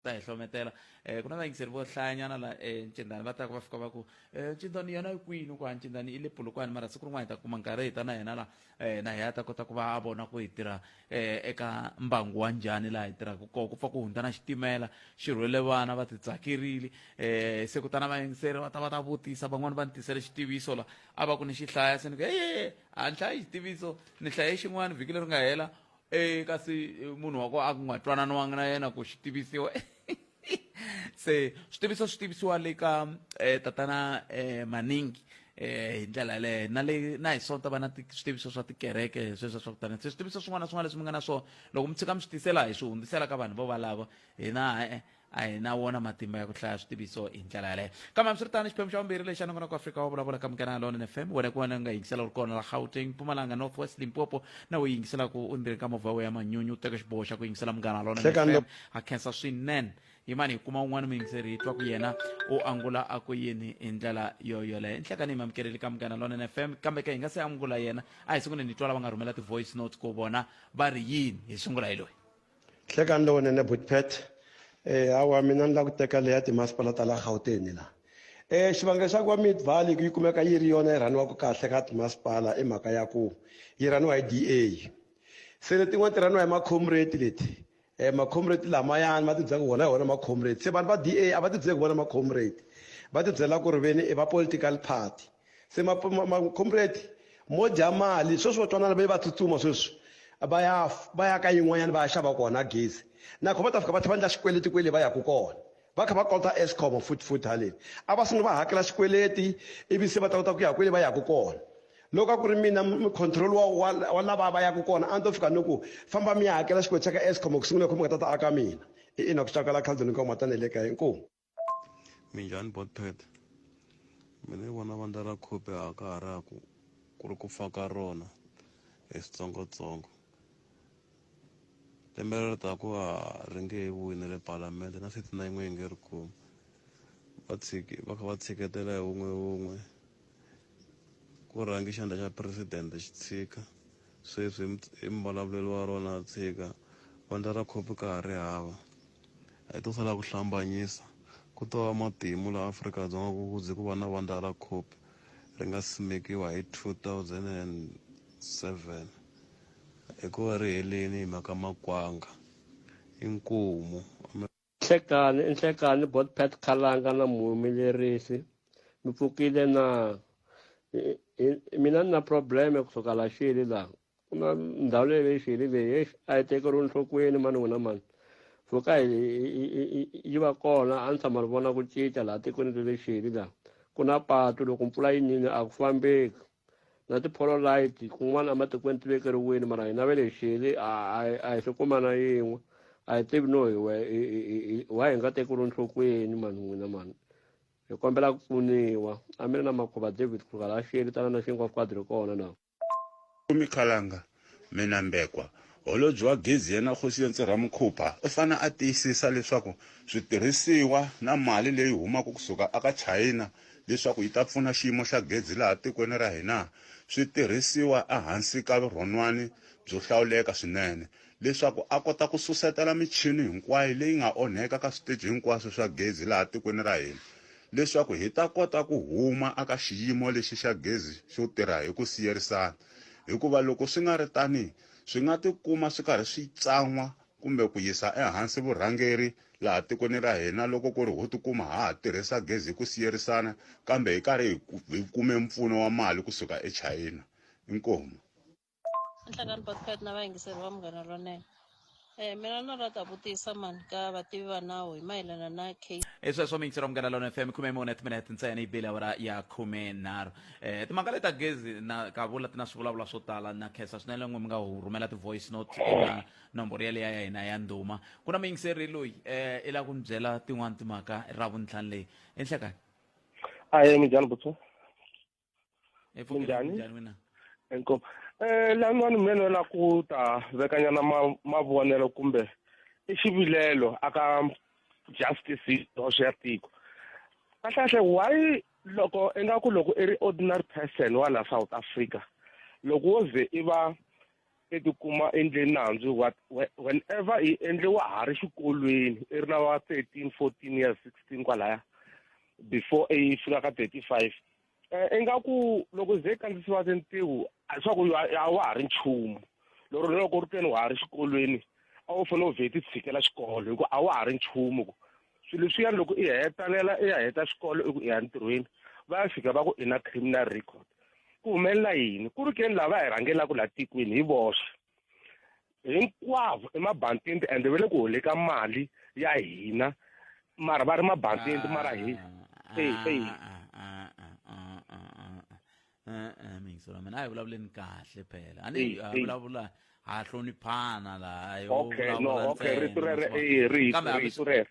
ta hi hlometela um ku na vayingiseri vo hlayanyana la encindani va taka va fika va ku ncindani yona yi kwini ku a ncindani i le pulukwani mara siku rin'wana hi ta kuma nkarhi hi ta na yena la um na hi a ta kota ku va a vona ku hi tirha um eka mbangu wa njhani laha hi tirhaka koho ku pfa ku hundza na xitimela xi rhwele vana va titsakerile um se kutana vayingiseri va ta va ta vutisa van'wani va ni tisele xitiviso la a va ku ni xi hlaya se ni ku eye a ni hlayi xitiviso ni hlaye xin'wana vhiki leri nga hela e kasi munhu wa ko a ku nga twananiwanga na yena ku xi tivisiwa se switiviso swi tivisiwa le ka um tatana um maningi um hi ndlela yaleyo na le na hi sonta va na switiviso swa tikereke sweswo swa kutani se switiviso swin'wana na swin'wana leswi mi nga na swona loko mi tshika mi swi tisela hi swi hundzisela ka vanhu vo valavo hina e-e a hi na wona matimba ya ku hlaya switiviso hi ndlela yaleyo kambe hambiswiritano xiphemu xa vumbirhi lexi anongonoko afrika wa vulavula ka munghana lona fm wena ku wena nga yingisela u ri kona la gauteng mpumalanga north west limpopo na u yingiselaka u ndzeni ka movha we ya manyunyu u teka xiboho xa ku yingisela munghana lona Hlekani fm ha khensa swinene yimani hi kuma un'wana muyingiseri hi twa ku yena u angula a ku yini hi ndlela yo yoleyo nhlekani hi mamukeleli ka munghana lona fm kambe ke hi nga se angula yena a hi sunguleni hi twa lava nga rhumela ti-voice notes ku vona va ri yini hi sungula hi loyi hlekani lowunene butpet eh, hawa mina ni la ku teka leya timasipala ta la gauteni la um xivangelo xa ku va mid valley ku yi kumeka yi ri yona yi rhaniwaka kahle ka timasipala i mhaka ya ku yi rhaniwa hi d a se letin'wana ti rhaniwa hi macomrate leti um macomrate lamayani va tibyela ku wona hi wona macomrate se vanhu va d a a va tibyeli ku vona macomrate va tibyela ku ri veni i va political party se macomrade mo dya mali sweswi va twanana va va tsutsuma sweswi va ya va ya ka yin'wanyana va ya xava kona gezi nakho va ta fika va tlhe va endla xikweleti kwele va yaka kona va kha va kolota escom futhi futhi haleni a va sungula va hakela xikweleti ivi se va ta kota ku ya kwele va yaka kona loko a ku ri mina control wa wa lava va yaka kona a ni to fika ni ku famba mi ya hakela xikweleti xa ka escom ku sungula kho mi nga ta ta aka mina ina ku tsakala khandzeni ka matana le ka inkomu Minjhani Botpet? Mina ni vona vandla ra Khupe a ka ha ra ku ku ri ku fa ka rona hi switsongotsongo. Lembe leri taka a ri nge he vuyi na le palamende na sixty nine n'we yi nge ri kumi. Va tshiki va kha va tshiketela hi wun'we wun'we. Ku rhange xandla xa president xi tshika sweswi i muvulavuleli wa rona a tshika vandla ra copy ka ha ri hava hi to sala ku hlambanyisa ku to va matimu la Afrika-Dzonga ku kuze ku va na vandla ra copy ri nga simekiwa hi 2007 hikuva ri heleni hi mhaka makwanga inkomu Nhlekani i Nhlekani Botpat Khalanga na muhumelerisi mi pfukile na mina ni na problem ku suka la xili la ku na ndhawu leyi leyi xili leyi exi a yi tekeriwi nhlokweni mani n'wina mani pfuka yi va kona a ni tshama ni vona ku cinca laha tikweni le le xili la ku na patu loko mpfula yi nini a ku fambeki na tiphololite kun'wana ematikweni ti vekeriwini mara hina ve le xele a hi swi kuma na yin'we a hi tivi no hi wa hi nga tekeriwi nhlokweni mani n'wina mani hi kombela ku pfuniwa a mi ri na makhuva david kruger la xele tana na xinkwa fukadri kona na kumikhalanga Mina Mbekwa, Holobye wa Gezi yena Kgosientsi Ramokhupa u fane a tiyisisa leswaku switirhisiwa na mali leyi humaka ku suka aka Chayina leswaku yi ta pfuna xiyimo xa gezi laha tikweni ra hina swi tirhisiwa ehansi ka vurhonwani byo hlawuleka swinene leswaku a kota ku susetela michini hinkwayo leyi nga onheka ka switeji hinkwaswo swa gezi laha tikweni ra hina leswaku hi ta kota ku huma aka xiyimo lexi xa gezi xo tirha hi ku siyerisana. hikuva loko swi nga ri tani swi nga tikuma swi karhi swi tsan'wa kumbe ku yisa ehansi vurhangeri laha tikweni ra hina loko ku ri ho tikuma ha ha tirhisa gezi hi ku siyerisana kambe hi karhi hi kume mpfuno wa mali kusuka echayina inkomu nhlangano na vayingiseri va munghana lonene Eh, mina na rata vutisa mani ka vativi va nawu hi mayelana na case i sweswo mixer wa munghana lona fm khume mune timinete ntsena yi bile awara ya khume nharhu um timhaka leti ta gezi na kavula ti na swivulavula swo tala na khensa swinene n'we mi nga hu rhumela ti-voice note eka nomboro yaleya ya hina ya ndhuma ku na muyingiseri loyi um i lava ku ni byela tin'wani timhaka ra vuntlhanu leyi enhlekani aye minjhani butsu epfukeni Minjhani? minjhani wena inkomu um lan'wani mina ni vona ku ta vekanyana ma- mavonelo kumbe i xivilelo aka justice hoxo ya tiko kahlekahle why loko ingaku loko i ri ordinary person wa la south africa loko wo ze i va i tikuma endleni nandzu what whenever i endle wa ha ri xikolweni i ri na wa thirteen fourteen years sixteen kwalaya before i fika ka thirty five um ingaku loko ze i kandzisiwa tintiho a hi swaku a wa ha ri nchumu lero loko ri teni wa ha ri xikolweni a wu fanele u vhe ti tshikela xikolo hikuva a wa ha ri nchumu ku swilo leswiyani loko i hetalela i ya heta xikolo i ku i ya ntirhweni va ya fika va ku i na criminal record ku humelela yini ku ri ke ni lava hi rhangelaka laha tikweni hi voxe hinkwavo emabantini ende ve le ku holeka mali ya hina mara va ri mabantini mara hi eyi eyi e-e mingisela mina a hi vulavuleni kahle phela a ni a vulavula ha hloniphana laha yo okay no okay rito rere eh rito rito rere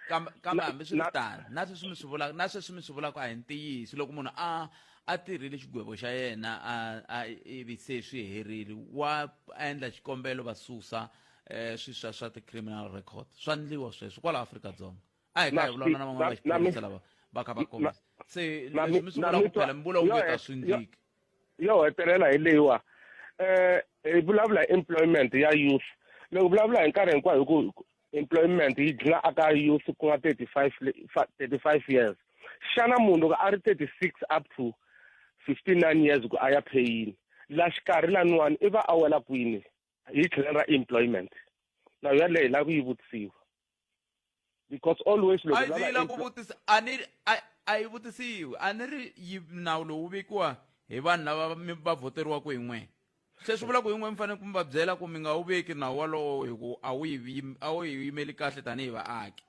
kambe hambi swi ri tano na sweswi mi swi vulaka na sweswi mi swi vulaka a hi ntiyiso loko munhu a a tirhile xigwevo xa yena a a ivi se swi herile wa endla xikombelo va susa um swi swa swa ti-criminal record swa ndliwa sweswo kwala afrika dzonga a hi ka hi vulavula na van'wana va xiphorisa lava va kha va kombisa se leswi mi sungula ku phela mi vula onge ta swi ndliki yo hetelela hi leyiwa um hi vulavula hi employment ya youth loko vulavula hi nkarhi hinkwayo hi ku employment yi dlina aka youth ku nga thirty five thirty five years xana munhu loko a ri thirty six up to fifty nine years ku a ya pheyini la xikarhi laniwani i va a wela kwini hi tlhelelo ra employment na yona hi lava ku yi vutisiwa because always loko ndzi lava ku vutisa a ni a yi vutisiwi a ni ri yi nawu lowu vekiwa hi vanhu lava mi va voteriwaka hi n'wina se swi vula ku hi n'we mi fanele ku mi va byela ku mi nga wu veki nawu walowo hi ku a wu yi a wu yi yimeli kahle tanihi vaaki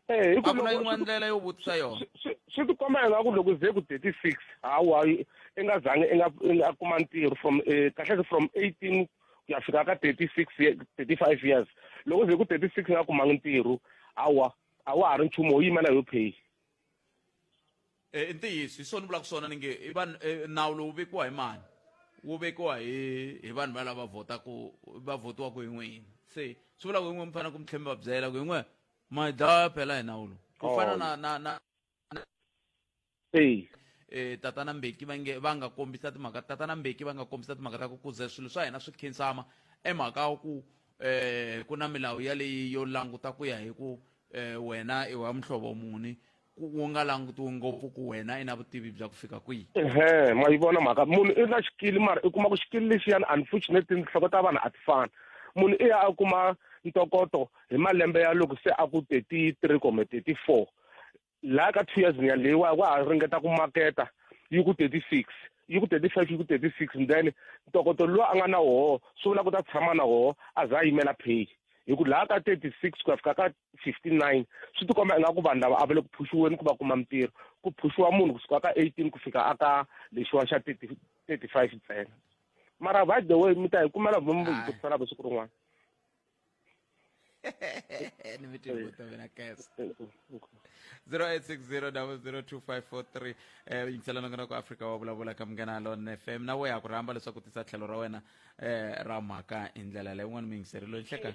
Eh, hi ku a ku na loko- yin'wana ndlela yo vutisa yona swi- swi- swi ti komba ingaku loko ze ku 36 hawa i nga zangi i nga i nga kuma ntirho from eh, kahle ke from 18 ku ya fika ka 36 ye- 35 years loko ze ku 36 i nga kumangi ntirho hawa a wa ha ri nchumu wo yima na yo pay Eh, i ntiyiso hi swona ni vulaka swona ni nge i vanhu eh, nawu lowu vekiwa hi mani wu vekiwa hi hi vanhu valava votaku va votiwaku hi n'wina se swi vula ku hi n'we mi fanele ku mi tlhela mi va byela ku hi n'we mai dawaya phela hi nawulo ku oh. fana na na na eyi eh tatana Mbeki va nge va nga kombisa timhaka tatana Mbeki va nga kombisa timhaka ta ku kuze swilo swa hina swi khinsama emhaka wa ku eh ku na milawu ya leyi yo languta ku ya hi ku eh wena i wa muhlovo muni ku u nga langutiwi ngopfu ku wena i na vutivi bya ku fika kwihi ehe ma yi vona mhaka munhu i na xikili mara i kuma ku xikili lexiyani unfortunately tinhloko ta vanhu a ti fani munhu i ya a kuma ntokoto hi malembe ya loko se a ku thirty three kumbe thirty four laha ka two years ya leyiwa wa ha ringeta ku maketa yi ku thirty six yi ku thirty five yi ku thirty six then ntokoto lowu a nga na woho swi vula ku ta tshama na woho a za a yimela pay hi ku laha ka thirty six ku ya fika ka 59 swi tikomba ingaku vanhu lava a va le ku phuxiweni ku va kuma mintirho ku phuxiwa munhu kusuka ka 18 ku fika a ka lexiwa xa 35 ntsena mara by the way mi ta hi kumela mi mi vutiselaka siku rin'wana ni mi tibuta mina kes 0860002543 eh yingiselana ngana ku Africa wa vulavula ka munghana Lon FM na wo ya ku rhamba leswaku tisa tlhelo ra wena eh ra mhaka hi ndlela leyi un'wana mi yingiserile nhleka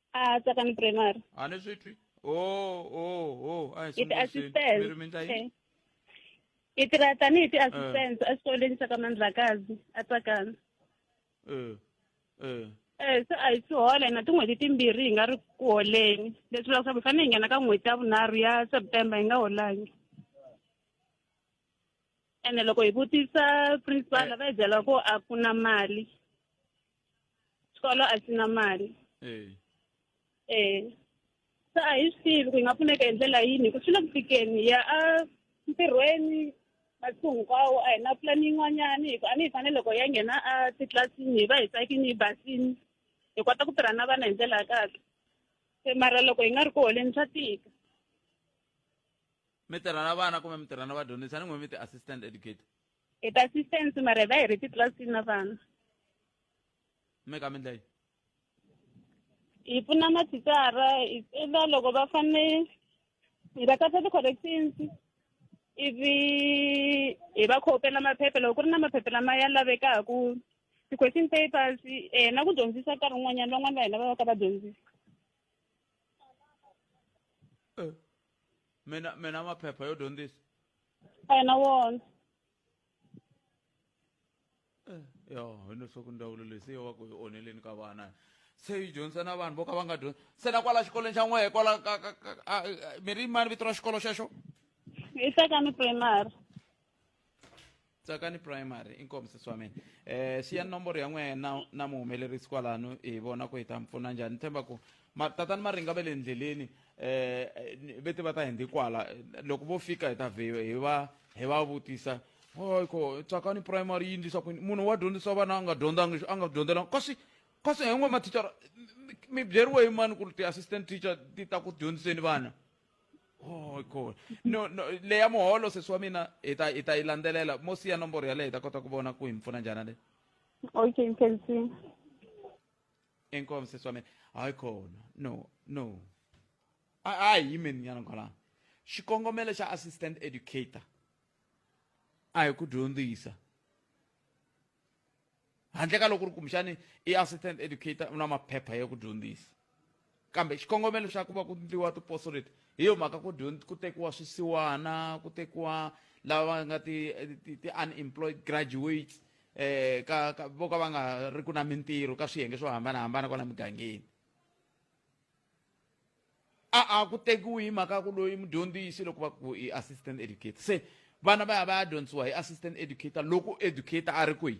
a tsakani primary a ni swi twi o o o a hi i sunguseni. mi ri mi endla ti-assistant yini Eh. i tirha tanihi ti-assistant exikolweni xa ka mandlakazi a tsakani Eh, eh. Eh, se a hi swi hola hina tin'hweti timbirhi hi nga ri ku holeni leswi vulaka swa ku hi fanele hi nghena ka n'hweti ya vunharhu ya september hi nga holangi ene loko hi vutisa principal va hi byela ku a ku na mali xikolo a xi na mali eh eh se a hi swi tivi ku hi nga pfuneka hi ndlela yini hi ku swi le ku fikeni hi ya a ntirhweni masiku hinkwawo a hi na pulani yin'wanyana hi ku a ni hi fanele loko hi ya nghena a titlilasini hi va hi tsakini hi basini hi kota ku tirha na vana hi ndlela ya kahle se mara loko hi nga ri ku holeni swa tika mi tirha na vana kumbe mi tirha na vadyondzisi a ni n'wi mi ti-assistant educator hi ta assistance mara hi va hi ri titlilasini na vana mi ka mi ndla yini hi pfuna mathicara hi tsela loko va fane hi va katsa ti-corrections ivi hi va khopela maphepha loko ku ri na maphepha lama ya lavekaku ti-question papers um na ku dyondzisa nkarhi wun'wanyana van'wani va hina va va ka va dyondzisa eh, mina mina maphepha yo dyondzisa a hi na wona yo hi leswaku ndzawulo leyi se yo va ku yi onheleni ka vana se yi dyondzisa na vanhu vo ka va nga dyondzi se na kwala xikolweni xa n'wehe kwala ka ka ka a- a- mi ri mani vito ra xikolo xexo i tekani primary tsakani primary inkomu sesi wa mina um siyani nomboro ya n'wehe na na muhumelerisi kwalano hi vona ku hi ta mi pfuna njhani ni tshemba ku ma tatani maringa va le ndleleni um vete va ta hi ndi kwala loko vo fika hi ta vhe hi va hi va vutisa oyko tsakani primary yi ndlisa kwini munhu wa dyondzisa vana a nga dyondzangi a nga dyondzelanga kasi kasi hi n'we mathicara mi byeriwe hi mani ku ri ti-assistant teacher ti ta ku dyondziseni vana oyko no no leya muholo sesi wa mina hi ta hi ta yi landzelela mo siya nomboro yaleyo hi ta kota ku vona ku hi mi pfuna njhani leyi okay mkhensiwe inkomo sesi wa mina hayi khona no no a a hi yimeni nyana kwalano xikongomelo xa assistant educator a hi ku dyondzisa handle ka loko ri kumbexani i assistant educator u na maphepha ya ku dyondzisa kambe xikongomelo xa ku va ku ndliwa tiposo leti hi yo mhaka ku ku tekiwa swisiwana ku tekiwa lava nga ti-unemployed ti, ti graduates eh ka, ka vo ka va nga ri ku na mintirho ka swiyenge swo hambanahambana kwala mugangeni a a ku tekiwi hi mhaka ku loyi mudyondzisi loko va ku i assistant educator se vana va ya va ya dyondzisiwa hi assistant educator loko educator a ri kwihi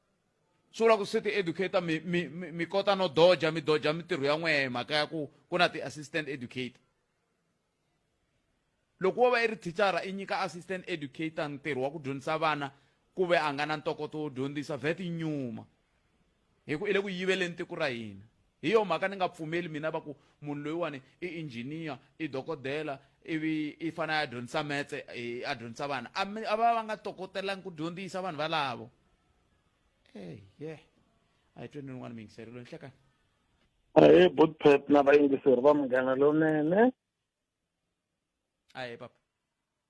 sungula ku se ti educator mi, mi, mi, mi kota no doja mi doja mintirho ya n'wehe mhaka ya ku ku na ti-assistant educator loko wo va i ri thichara i nyika assistant educator ntirho wa ku dyondzisa vana ku ve a nga na ntokoto wo dyondzisa vet i nyuma hi ku i le ku yiveleni tiko ra hina hi yo mhaka ni nga pfumeli mina va ku munhu loyiwani i engineer i dokodela ivi i fanele a dyondzisa metse a dyondzisa vana a va va nga tokotelangi ku dyondzisa vanhu valavo hey yeah a hi tweni rin'wana mingiseri lo nhlekani ahee bootpet na vayingiseri va munghana lonene ahee papa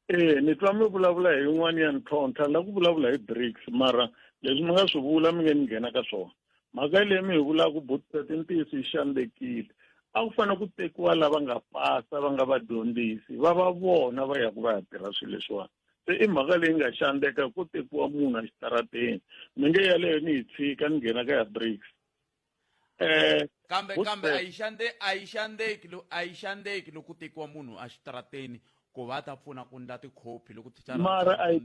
ee ni twa mi vulavula hi yin'wana ya ntlhontlha la ku vulavula hi brics mara leswi mi nga swi vula mi nge ni nghena ka swona mhaka leyi mi hi vulaka bootpet i ntiyiso yi xandekile a ku fanele ku tekiwa lava nga pasa va nga vadyondzisi va va vona va ya ku va ya tirha swilo leswiwani se i mhaka leyi nga xandeka ko tekiwa munhu a xitarateni mi nge yaleyo ni yi tshika ni nghena ka ya bricks um kambe kambe a yi xande a yi xandeki a yi xandeki loko tekiwa munhu a xitarateni ku va ta pfuna ku ndla tikhopi loko mara a yi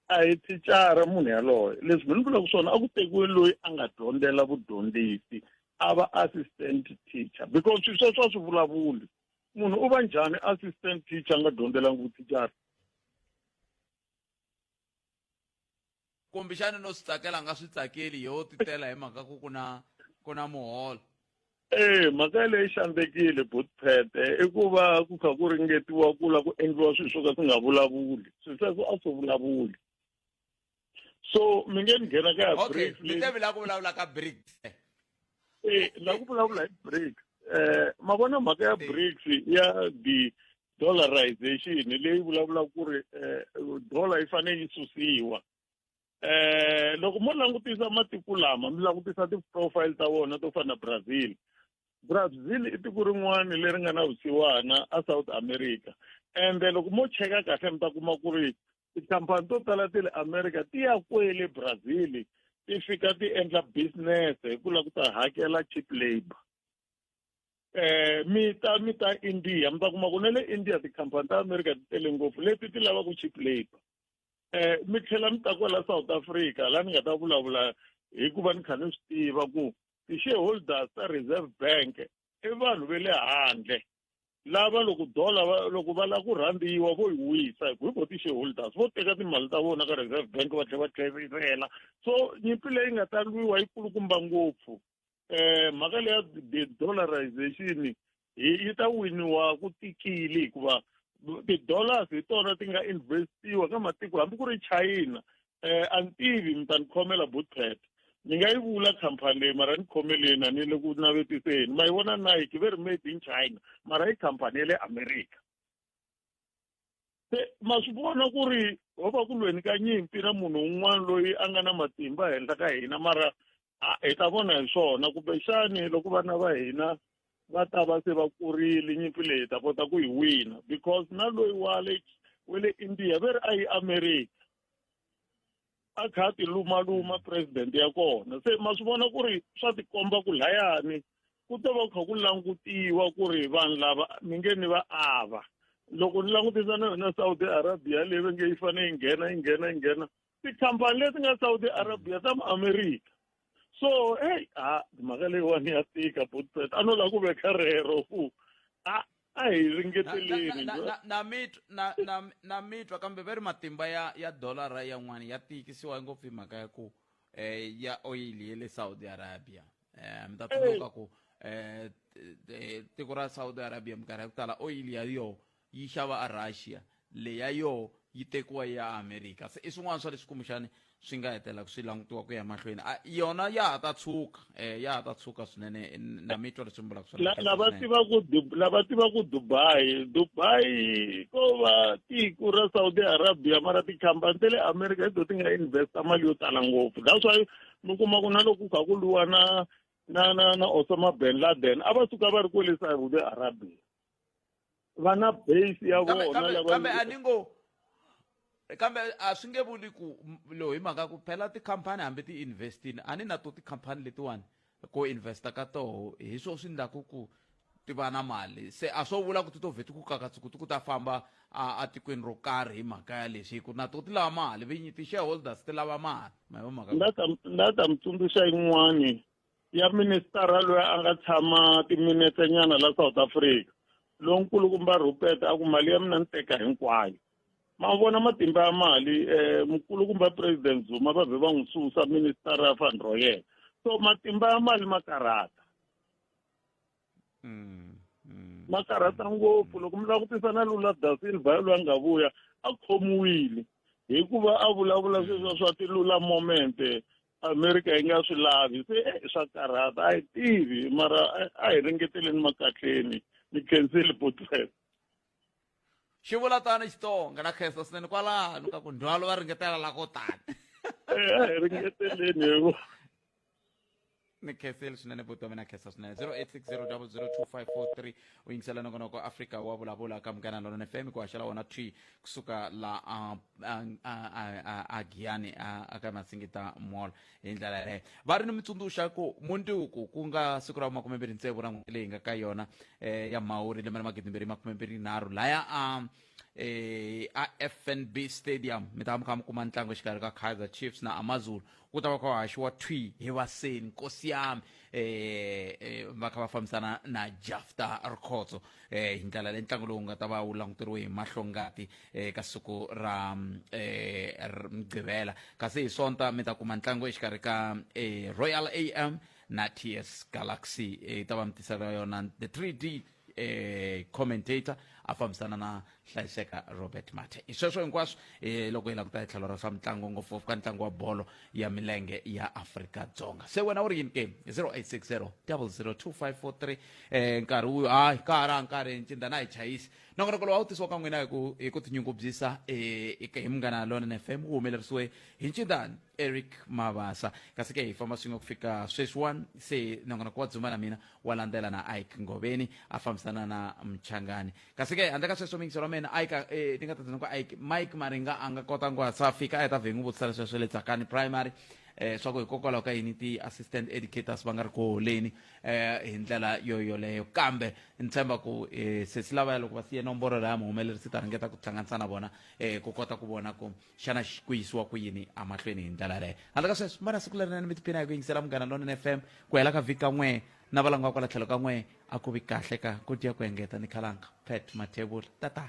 a hi thicara munhu yaloye leswi mi ni vulaka swona a ku tekiwe loyi a nga dyondzela vudyondzisi a va assistant teacher because swilo sweswo a swi vulavuli munhu u va njhani assistant teacher a nga dyondzelanga vuthicara kumbexani no swi tsakela a nga swi tsakeli yo ti tela hi mhaka ku ku na ku na muholo ee mhaka yaleyi xandzekile botphete i ku va ku kha ku ringetiwa ku la ku endliwa swilo swo ka swi nga vulavuli swilo sweswo a swi vulavuli so mi nge ni nghena ka ya okay mi te vila ku vulavula ka break eh la ku vulavula hi break eh ma vona mhaka ya breaks ya the dollarization leyi vulavula ku ri eh, dollar yi fane yi susiwa eh loko mo langutisa matiko lama mi langutisa ti-profile ta vona to fana na brazil brazil i tiko rin'wana leri nga na vusiwana a south america ende loko mo cheka kahle mi ta kuma ku ri tikhampani to tala ti le america ti ya kwele brazil ti fika ti endla business hi ku lava ku ta hakela cheap labor eh mi ta mi ta india mi ta kuma ku na le india tikhampani ta america ti tele ngopfu leti ti lavaka cheap labor eh mi tlhela mi ta kwala south africa laha ni nga ta vulavula hikuva ni kha ni swi tiva ku ti-shareholders ta reserve bank i vanhu ve le handle lava loko dola loko va lava ku rhandziwa vo yi wisa hi ku hi vo ti-shareholders vo teka timali ta vona ka reserve bank va tlhela va tlherisela so nyimpi leyi nga ta lwiwa yi kulukumba ngopfu um mhaka leya de-dollarization yi ta winiwa ku tikile hikuva ti-dollars hi tona ti nga investiwa ka matiko hambi ku ri china eh a ni tivi mi ta ni khomela bootcat ni nga yi vula khampani leyi mara ni khomeleni a ni le ku navetiseni ma yi vona nike ve ri made in china mara yi khampani ya le america se ma swi vona ku ri ho va ku lweni ka nyimpi na munhu un'wana loyi a nga na matimba henhla ka hina mara hi ta vona hi swona kumbexani loko vana va hina va ta va se va kurile nyimpi leyi ta kota ku yi wina because na loyi wa le we le india ve ri a yi america a kha a tilumaluma president ya kona se ma swi vona ku ri swa tikomba ku layani ku ta va kha ku langutiwa ku ri vanhu lava mi nge ni va ava loko ni langutisa na yona saudi arabia leyi va nge yi fanele yi nghena yi nghena yi nghena tikhampani leti nga saudi arabia ta muamerica so hey a mhaka leyiwani ya tika botset a no lava ku veka rero fu a a hi ringeteleni na mitwa kambe va ri matimba ya ya dolara yan'wana ya tiyikisiwa ngopfu hi mhaka ya ku um ya oil ye le saudi arabia um mi ta tsundzuka ku um tiko ra saudi arabia minkarhi ya ku tala oil ya yoho yi xava a Russia leyi ya yoho yi tekiwa yi ya a America se i swin'wana swa leswi kumbexani swi nga hetelaka swi langutiwa ku ya emahlweni a yona ya ha ta tshuka um ya ha ta tshuka swinene na mi twa leswi mi vulaka swona lava tivaku lava tivaku dubai dubai ko va tiko ra saudi arabia mara tikhampani ta le america hi to ti nga investa mali yo tala ngopfu that's why mi kuma ku na loko ku kha ku lwiwa na na na na osama ben laden a va suka va ri kwele saudi arabia va na base ya kambe vona kambe lava kambe a ni ngo kambe a swi nge vuli ku m- lo hi mhaka ku phela tikhampani hambi ti investini a ni na to tikhampani letiwani ko investa ka toho hi swo swi ndlaku ku ti va na mali se a swo vula ku ti to vhe ti ku kakatsuku ti ku ta famba a- atikweni ro karhi hi mhaka ya lexi hi ku na to ti lava mali vinyi ti-shareholders ti lava mali ma hi va mhaka ku- ndza ta ndza ta mi tsundzuxa yin'wani ya ministara loyi a nga tshama timinetse nyana la south africa lonkulukumba rupert a ku mali ya mina ni teka hinkwayo ma vona matimba ya mali um eh, mukulukumba president zuma va vhe va n'wi susa ministara ya fund ro yena so matimba ya mali ma karhata mm, mm. ma karhata ngopfu loko mi langutisa na lula da silva yaloyi a nga vuya a khomiwile hikuva a vulavula sweswa swa tilula momente amerika yi nga swi lavi se eh, swa karhata a yi tivi mara eh, a hi ringeteleni makatleni ni khenseli potlep xi vula tani xitsonga na khensa swinene kwalano ka ku ndzhwalo va ringetela la ko tani eh, a hi ringeteleni hivo ni khenseli swinene vutomi na khensa swinene 0860 002 543 u yingisela nongonoko afrika wa vulavula ka munghana lonene fm ku haxela wona twi kusuka la a- a- a- a- a- a giyani a- aka masingita mall hi ndlela yaleyo va ri ni mitsundzuxa ku munduku ku nga siku ra makume mbirhi ntsevu ra n'hweti leyi nga ka yona eh, ya mhawuri lembe ra magidi mbirhi makume mbirhi nharhu laya a eh, afnb stadium mi ta va mi kha mi kuma ntlangu exikarhi ka kaizer chiefs na amazulu ku ta va kha haxiwa twi hi vaseni nkosi yami eh, eh, va kha va fambisana na jafta rikhotso eh, hi ndlela leyi ntlangu lowu nga ta va wu languteriwe hi mahlongati eh, ka siku ra mm, eh, r- mugqivela kasi hi sonta mi ta kuma ntlangu exikarhi ka eh, royal am na ts galaxy eh, yi ta va mi tisela yona the 3d eh, commentator a fambisana na hlayiseka robert mate hi sweswo hinkwaswo eh, loko hi la ku ta hi tlhelo ra swa mitlangu ngopfungopfu ka ntlangu wa bolo ya milenge ya afrika dzonga se wena u ri yini ke 0860 002543 eh, nkarhi wu hayi ka ha ra nkarhi ncinda na hi chayisi nongonoko lowu a wu tisiwa ka n'wina hi ku- hi ku tinyungubyisa eh, hi munghana lona fm wu humelerisiwe hi ncindani eric mabasa kasi ke hi famba swin'we ku fika sweswiwani se nongonoko wa dzuma na mina wa landzela na ike ngoveni a fambisana na mchangani kasi ke handle ka sweswo mingiselo wa mina ike eh, ni nga ta byela ku ike mike maringa a nga kota ku hatsa a fika a heta vhe n'wi vutisa leswi swa le tsakani primary eh swa ku hikokwalaho ka yini ti-assistant educators va nga ri ku holeni eh hi ndlela yo yoleyo kambe ni tshemba ku eh, sesi lavaya loko va siye nomboro laya muhumelerisi ta ringeta ku hlanganisa na vona eh ku kota ku vona ku xana xi ku yisiwa ku yini emahlweni hi ndlela yaleyo handle ka sweswo vana siku lerinene mi tiphina hi ku yingisela munghana lonene fm ku hela ka vhiki ka n'we na valanga va kwala tlhelo ka n'we a ku vi kahle ka ku dya ku engeta ni khalanga pet mathevula tata